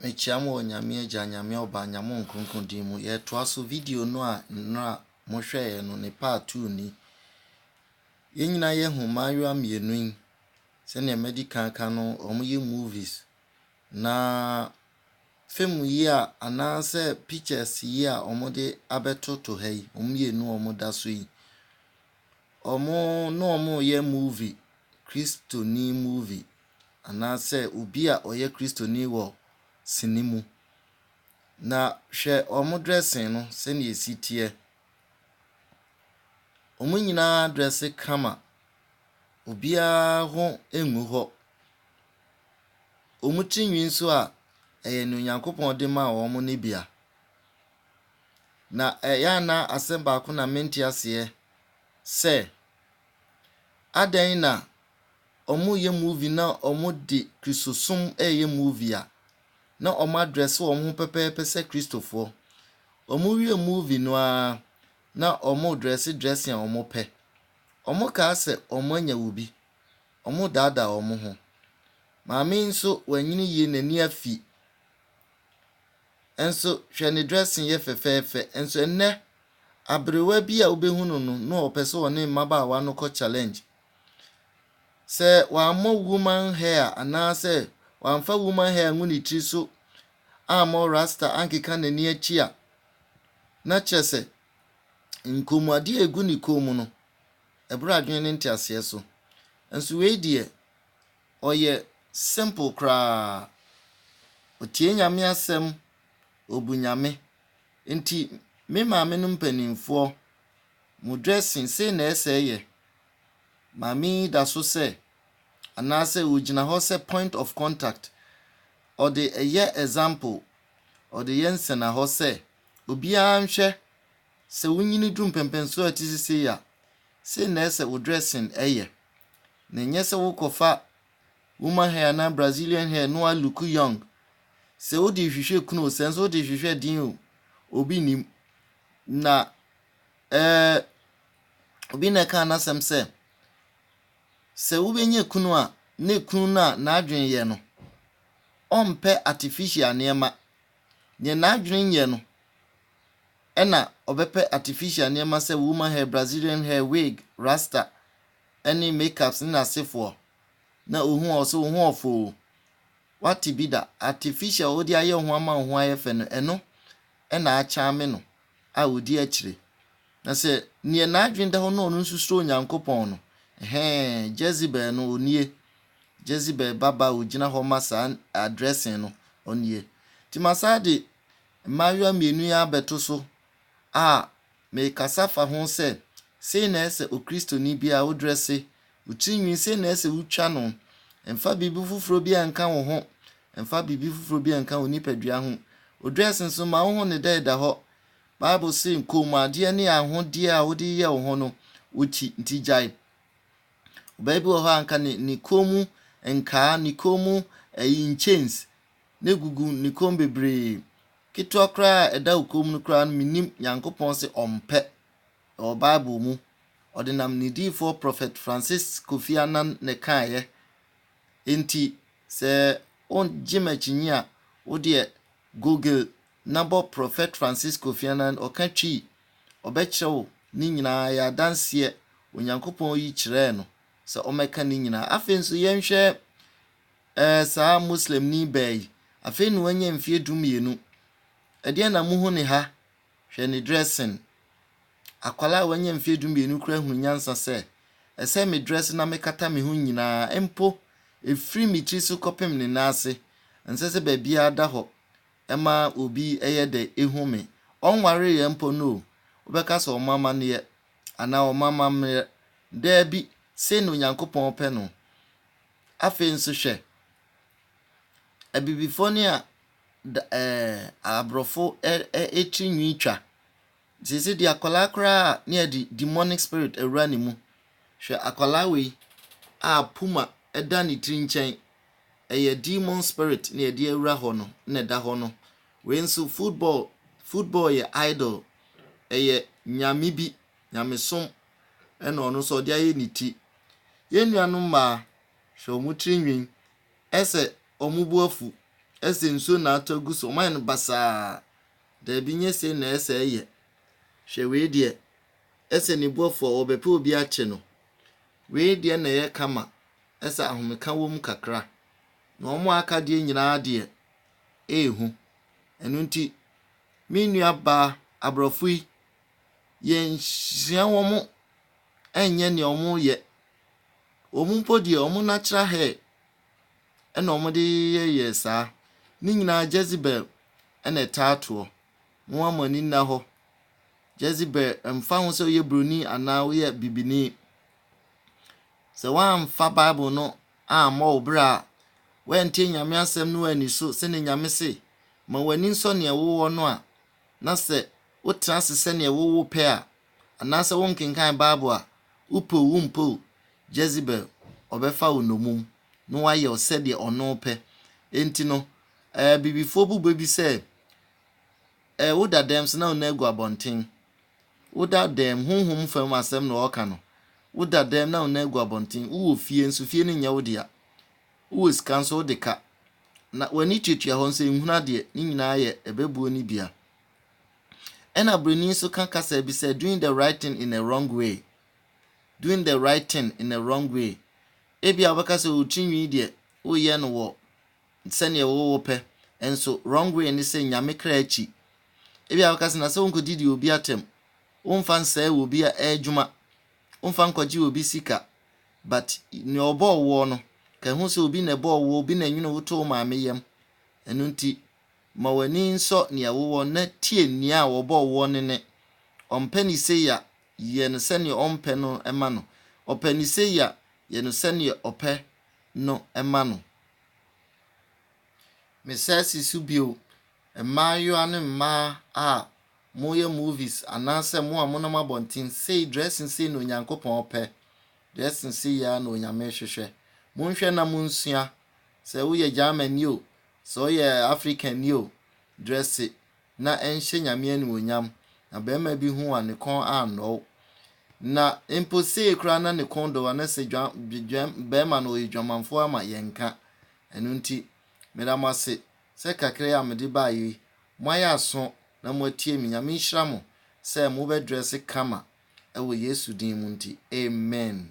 Mekyia mo wɔ Nyame Agya, Nyame Ɔba, Nyame Ɔnkronkron din mu. Yɛtoa so video no a nnora mohwɛeɛ no ne part two ni. Yɛn nyinaa yɛahu mmaayewa mmienu yi sɛdeɛ madi kan ka no wɔyɛ movies na film yi a anaasɛ pictures yi a wɔde abɛtoto ha yi wɔn mmienu a wɔda so yi wɔn ne wɔn reyɛ movie kristoni movie. Anaasɛ obi a ɔyɛ Kristoni wɔ sini mu. Na hwɛ wɔn dressing no sɛnea esi teɛ. Wɔn nyinaa dresse kama. Obiara ho ngu hɔ. Wɔn ti nhwi nso a, ɛyɛ nea Onyankopɔn de maa wɔn no bi a. Na ɛyɛ a na asɛm baako na mente aseɛ sɛ, adɛn na ɔmo yɛ movie na ɔmo de kristosom ɛɛyɛ movie a na ɔmo adrɛse wɔn ho pɛpɛɛpɛ sɛ kristofoɔ. Ɔmo wie movie no ara na ɔmo drɛse drɛse a ɔmo pɛ. Ɔmo kaa sɛ ɔmo anya wobi. Ɔmo daadaa ɔmo ho. Maame yi nso wanyini yie n'ani afi nso hwɛ ne drɛse yɛ fɛfɛɛfɛ nso ɛnnɛ aberewa bi a wobɛhu no no na ɔpɛ sɛ ɔne mmabaawa no kɔ challenge Sɛ wammɔ woman hair anaasɛ wamfa woman hair angu ne tiri so ammɔ rasta ankeka n'ani akyi a, na kyerɛ sɛ nkɔnmuadeɛ a ɛgu ne kɔn mu no, ɛboro adwene ne nteaseɛ so. Nso wei deɛ, ɔyɛ simple koraa. Ɔtie Nyame asɛm, ɔbu Nyame. Nti me maame no mpanimfoɔ Mo dressing sei na ɛsɛɛ yɛ? Maame yi da so sɛ anaasɛ ɔgyina hɔ sɛ point of contact, ɔde yɛ example, ɔde yɛ nsɛnahɔ sɛ obiara nhwɛ, sɛ wo nyini duru mpɛmpɛnsoɔ a ɛte sɛ sei a, sei na ɛsɛ wo dressing yɛ. Na ɛnyɛ sɛ wokɔfa woman hair anaa Brazilian hair na woa look young. Sɛ wode rehwehwɛ kunu o, sɛ nso wode rehwehwɛ den o, obi nnim. Na Ɛɛ, obi na ɛkaa n'asɛm sɛ, Sɛ wobɛnya kunu a, na ekunu no a n'adwene yɛ no, ɔmpɛ artificial nneɛma. Deɛ n'adwene nyɛ no, ɛna ɔbɛpɛ artificial nneɛma sɛ woman hair, Brazilian hair, wig, rasta, ɛne makeups ne n'asefoɔ. Na ohu a ɔsɛ wo ho ɔfoo. Wate bi da? Artificial a wode ayɛ wo ho ama wo ho ayɛ fɛ no, ɛno ɛna akyame no. a odi akyire. Na sɛ neɛ n'adwene da hɔ na ɔno nso suro Onyankopɔn no, ɛhɛɛ, Jezebel no, ɔnie. Jezebel ba ba a ɔgyina hɔ ma saa addressing no, ɔnie. Nti masan de mmaayewa mmienu yi ara abɛto so a merekasa fa ho sɛ, sei na ɛsɛ sɛ Okristoni biara wodrɛse wo tiri nwi sei na ɛsɛ wotwa no. Mfa biribi foforɔ bi a nka wo ho. Mfa biribi foforɔ bi a nka wo nipadua ho. Wo dress nso ma wo ho ne dɛ da hɔ. Bible se kɔnmuadeɛ ne ahodeɛ a wode yɛ wo ho no, wokyi nti gyae. Ɔbaa bi wɔ hɔ a nka ne ne kɔn mu nkaa, ne kɔn mu ɛyi nkyɛns na egugu ne kɔn bebree. Ketewa koraa a ɛda wo kɔn mu no koraa no menim Nyankopɔn se ɔmpɛ. ɛwɔ Bible mu, ɔdenam ne diyifoɔ Prɔfɛt Francis Kofi Annan na ɛkaeɛ. Enti sɛ wogye m'akyinnye a, wo deɛ Google na bɔ Prɔfɛt Francis Kofi Annan, ɔka Twi, ɔbɛkyerɛ wo ne nyinaa, ɛyɛ adanseɛ, Onyankopɔn yi kyerɛɛ no sɛ ɔmmɛka ne nyinaa. Afei nso yɛnhwɛ eh, saa Muslimni baa yi, afei na wanya mfeɛ dumienu. Ɛdeɛn na mohu ne ha? Hwɛ ne dressing. Akwadaa a wanya mfeɛ du mmienu koraa hunu nyansa sɛ, ɛsɛ me dress na mekata me ho nyinaa mpo, ɛfiri me tiri so kɔpem ne nan ase. Ɛnsɛ sɛ baabiara da hɔ ma obi yɛ dɛ hu me. Ɔnwareeɛ mpo no o, wobɛka sɛ ɔma amanneɛ anaa ɔma amammerɛ. Daabi, sei na Onyankopɔn pɛ no. Afei nso hwɛ, Abibifoɔ no a da ɛɛ aborɔfo ɛ ɛ ɛtiri nwi twa. Sese di akwadaa koraa a ne yɛde demonic spirit awura ne mu. Hwɛ akwadaa wei a puma ɛda ne tiri nkyɛn. Ɛyɛ demon spirit ne yɛde awura hɔ no na ɛda hɔ no. Wei nso football football yɛ idol. Ɛyɛ nyame bi nyamesom ɛna ɔno nso ɔde ayɛ ne ti. Yɛn nuanom mmaa hwɛ wɔn tiri nwi. Ɛsɛ wɔn bo afu. Ɛsɛ nsuo na atɔ agu so. Wɔn ayɛ no basaa. Daabi nyɛ sei na ɛsɛ ɛyɛ. Hwɛ wei deɛ. Ɛsɛ ne bo afu a wɔbɛpɛ obi akye no. Wei deɛ na ɛyɛ kama. Ɛsɛ ahomeka wɔ mu kakra. Na wɔn a aka deɛ nyinaa deɛ, ɛyɛ hu. Ɛno nti, me nua baa aborɔfo yi, yɛnsua wɔn ɛnyɛ nea wɔyɛ. Wɔn mpo deɛ, wɔn natural hair na wɔde yɛyɛɛ saa. Ne nyinaa Jezebel na ɛtaa toɔ. Momma mo ani nna hɔ. Jezebel, ɛmfa ho sɛ woyɛ buroni anaa woyɛ bibini, sɛ woamfa Bible no ammɔ wo bra a, woantie Nyame asɛm no anni so sɛnea Nyame se, ma w'ani nsɔ nea wowɔ no a, na sɛ wotra ase sɛnea wowo pɛ a, Anaasɛ wonkenkan Bible a, wopɛ o wompɛ o, Jezebel, ɔbɛfa wo nnɔmum, na wayɛ wo sɛdeɛ ɔno pɛ. Enti no, Abibifoɔ bu bɛ bi sɛ, eh, woda dɛm so na wo nan agu abɔnten, woda dɛm, honhom fam asɛm na wɔreka no, woda dɛm na wo nan agu abɔnten, wowɔ fie nso, fie no nyɛ wo dea, wowɔ sika nso, wode ka, na w'ani tuatua hɔ nso, nhunu adeɛ, ne nyinaa yɛ ɛbɛbuo ne bia. Ɛna broni nso ka kasa bi sɛ doing the right thing in a wrong way. Doing the right thing in a wrong way. Ebi a wobɛka sɛ wo tirinwi deɛ woyɛ no wɔ sɛdeɛ wowɔ pɛ nso wrong way ne sɛ nyame kra akyi. Ebi a wobɛka sɛ na sɛ wonkɔdidi obi atɛm. Womfa nsɛe wɔ obi adwuma. Womfa nkɔgye obi sika. But nea ɔbɔɔ woɔ no, ka hu sɛ obi na ɛbɔɔ woɔ, obi na ɛnwene wo too maame yam. Ɛno nti, Ma w'ani nsɔ nea wowɔ na tie nea wɔbɔɔ woɔ no nne. Ɔmpɛ no sei a, yɛ no sɛdeɛ ɔmpɛ no ma no. Ɔpɛ no sei a, yɛ no sɛdeɛ ɔpɛ no ma no. Mesan si so bio, mmaayewa ne mmaa a moyɛ movies anaasɛ mo a monam abɔnten sei, dressing sei na Onyankopɔn pɛ, dressing sei ara na Onyame hwehwɛ. Monhwɛ na monsua. Sɛ woyɛ Germani o, Sɛ ɔyɛ African ni o, dresse na ɛnhyɛ Nyame animuonyam na barima bi hu a ne kɔn annɔ wo. Na mpo sei koraa na ne kɔn dɔ wo a na sɛ dwa, dwa, barima no ɔyɛ dwamanfoɔ ama yɛnka. Ɛno nti, meda mo ase sɛ kakra yi a mede baeɛ yi, moayɛ aso na moatie me. Nyame nhyira mo sɛ mobɛdrɛse kama ɛwɔ Yesu din mu nti. Amen.